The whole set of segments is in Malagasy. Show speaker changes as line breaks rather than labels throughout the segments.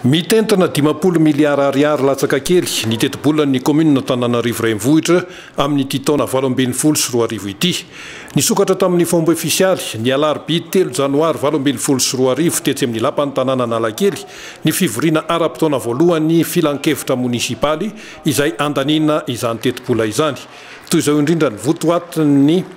Mitentina dimampolo miliara ariary latsaka kely ny tetibolan'ny kaominin'Antananarivo Renivohitra amin'ity taona valo ambin'ny folo sy roa arivo ity. Nisokatra tamin'ny fomba ofisialy, ny alarobia telo janoary valo ambin'ny folo sy roa arivo tetsy amin'ny lapan'ny tanàna Analakely, ny fivoriana ara-potoana voalohan'ny filankevitra monisipaly izay handaniana izany tetibola izany. Toy izao indrindra ny votoatin'ny.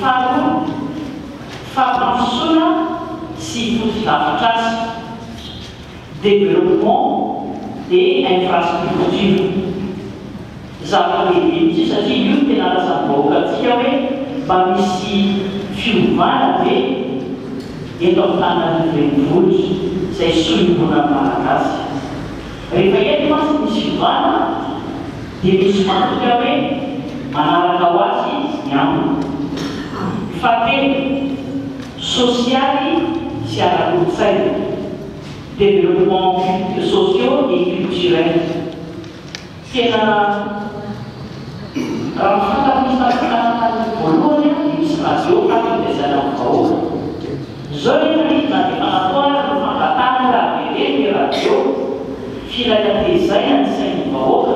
Faharoa, fampandrosoana sy fotodrafitrasa, développement des infrastructures. Zava-dehibe mihitsy io satria io no tena razam-bahoakantsika hoe mba misy fiovana ve eto Antananarivo renivohitra, izay solombonan'ny Malagasy. Rehefa eny manko ny Silvana dia misy mandinika hoe manaraka ho azy ny ambiny. Fahatelo, sosialy sy ara-kolontsaina, développements sociaux et culturels. Tena raha ny fantatro ny isan-karazany voalohany dia misy radio, radio dia izay amin'ny vahoaka. Izao ny manidina ny fanafoanana no fangatahana raha veleno ny radio, firay hatezaina ny sain'ny vahoaka,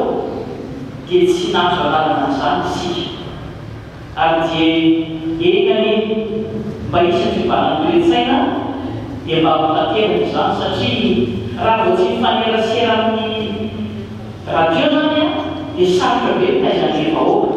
dia tsy nahazo alalana an'izany isika. Ary dia eny anie, mba hisy ny fiovanan'ny toe-tsaina dia mba hotanterina izany satria raha vao tsy mifanerasera amin'ny radio izany dia sarotra be ny taizan'ireo vahoaka.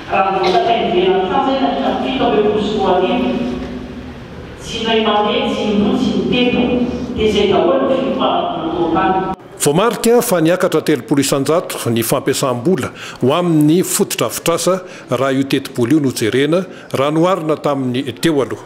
Raha nipetraka ivelan-tsaha izahay tamin'ny taona fito ambin'ny folo sy roa arivo, tsy may mandeha, tsy indroa, tsy intelo, dia izay daholo ny fiofanan'ny motopane. Voamarika
fa niakatra telopolo isan-jato ny fampiasam-bola ho amin'ny fotodrafitrasa raha io tetibola io no jerena raha noharina tamin'ny teo aloha.